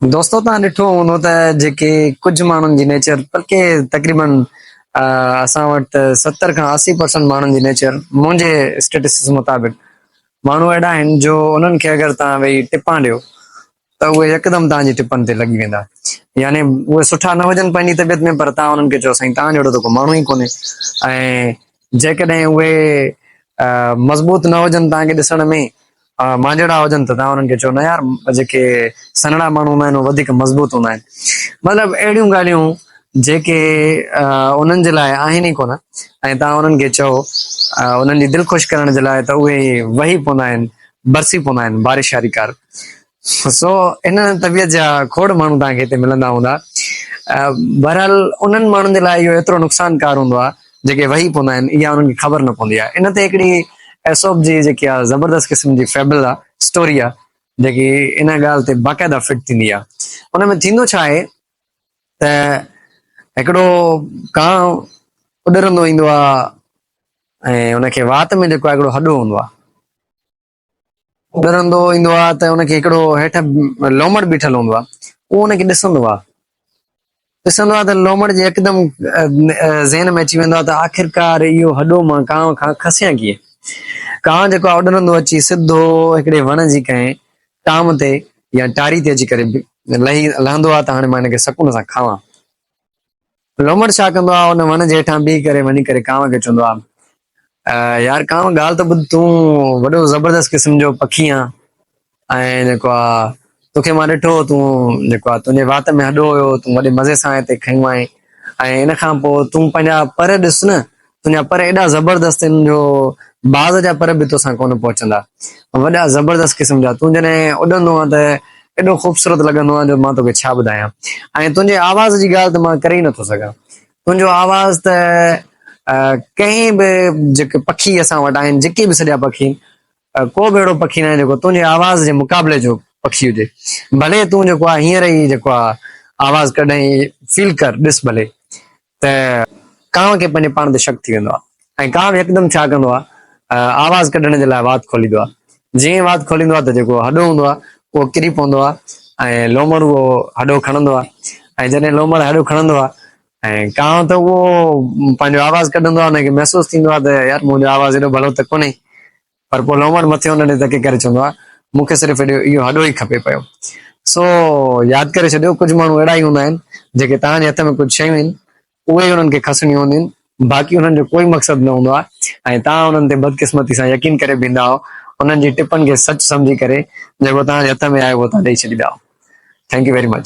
دوستو توهان ڏٺو هوندو ته جيڪي ڪجهه ماڻهن جي نيچر بلڪه تقريبن اسان وٽ ته ستر کان اسي پرسنٽ ماڻهن جي نيچر منهنجي اسٽيٽسٽڪس مطابق ماڻهو اهڙا آهن جو انهن کي اگر توهان ويهي ٽپان ڏيو ته اهي يڪدم توهان جي ٽپن تي لڳي ويندا يعني اهي سٺا نه هجن پنهنجي طبيعت ۾ پر توهان انهن کي چئو سائين توهان جهڙو ته ڪو ماڻهو ئي ڪونهي ۽ جيڪڏهن اهي مضبوط نه هجن توهان کي ڏسڻ ۾ مانجهڙا هجن ته توهان انهن کي چئو نه يار جيڪي سنهڙا ماڻهو هوندا آهن اهي وڌيڪ مضبوط هوندا آهن مطلب اهڙيون ڳالهيون جيڪي انهن جي لاء آهن ئي ڪونه ۽ توهان انهن کي چئو انهن جي دل خوش ڪرڻ جي لاء ته اهي وهي پوندا آهن برسي پوندا آهن بارش واري ڪار سو ان طبيعت جا کوڙ ماڻهو توهان کي هتي ملندا هوندا بهرحال انهن ماڻهن جي لاء اهو ايترو نقصان ڪار هوندو آهي جيڪي وهي پوندا آهن اها انهن کي خبر نه پوندي آهي ان تي هڪڙي ايسوپ جي جيڪي آهي زبردست قسم جي فيبل آهي اسٽوري آهي جيڪي ان ڳالهه تي باقاعده فٽ ٿيندي آهي ان ۾ ٿيندو ڇا آهي ته هڪڙو ڪانء اڏرندو ايندو آهي ۽ ان کي وات ۾ جيڪو آهي هڪڙو هڏو هوندو آهي ڏرندو ايندو آ ته ان کي هڪڙو هيٺ لومڙ بيٺل هوندو آ اهو ان کي ڏسندو آ ڏسندو آ ته لومڙ جي يڪدم ذهن ۾ اچي ويندو آ ته آخرڪار اهو هڏو مان ڪانء کان کسيان ڪيئن ڪانء جيڪو آ اڏرندو اچي سڌو هڪڙي وڻ جي ڪنهن ٽام تي يا ٽاري تي اچي ڪري لهي لهندو آ ته هاڻي مان هن کي سڪون سان کاوان. لومڙ ڇا ڪندو آهي، ان وڻ جي هيٺان بيهي ڪري وڃي ڪري ڪانء کي چوندو آهي، يار ڪانء ڳالهه ته ٻڌ، تون وڏو زبردست قسم جو پکي آهين ۽ جيڪو آهي توکي مان ڏٺو هو، تون جيڪو آهي تنهنجي وات ۾ هڏو هيو، تون وڏي مزي سان هتي کنيو آهين ۽ ان کان پوء تون پنهنجا پر ڏس نه، تنهنجا پر ايڏا زبردست آهن جو باز جا پر به توسان ڪونه پهچندا. وڏا زبردست قسم جا. تون جڏهن اڏندو آهين ته ايڏو خوبصورت لڳندو آهين جو مان توکي ڇا ٻڌايان. ۽ تنهنجي آواز جي ڳالهه ته مان ڪري ئي نٿو سگهان. تنهنجو آواز ته ڪنهن به جيڪي پکي اسان وٽ آهن جيڪي به سڄا پکي آهن ڪو به اهڙو پکي ناهي جيڪو تنهنجي آواز جي مقابلي جو پکي هجي. ڀلي تون جيڪو آهي هينئر ئي جيڪو آهي آواز ڪڍ ۽ فيل ڪر ڏس ڀلي ته ڪانء کي پنهنجي پاڻ تي شڪ ٿي ويندو آهي ۽ ڪانء يڪدم ڇا ڪندو آهي آواز ڪڍڻ جي لاء وات کوليندو آهي. جيئن ئي وات کوليندو آهي ته جيڪو هڏو هوندو آهي اهو ڪري پوندو آهي ۽ لومڙ اهو هڏو کڻندو آهي ۽ جڏهن لومڙ هڏو کڻندو آهي ۽ ڪانء ته اهو پنهنجو آواز ڪڍندو آهي ان کي محسوس ٿيندو آهي ته يار منهنجو آواز ايڏو ڀلو ته ڪونهي پر پوء لومڙ مٿي هن ڏي تڪي ڪري چوندو آهي، مون کي صرف اهو اهو هڏو ئي کپي پيو. سو ياد ڪري ڇڏيو، ڪجهه ماڻهو اهڙا ئي هوندا آهن، جيڪي توهان جي هٿ ۾ ڪجهه شيون آهن، اهي ئي انهن کي کسڻيون هونديون آهن، باقي انهن جو ڪوئي مقصد نه هوندو آهي ۽ توهان انهن تي بدقسمتي سان يقين ڪري بيهندا آهو، انهن جي ٽپن کي سچ سمجهي ڪري جيڪو توهان جي هٿ ۾ آهي اهو توهان ڏيئي ڇڏيندا آهو. Thank you very much.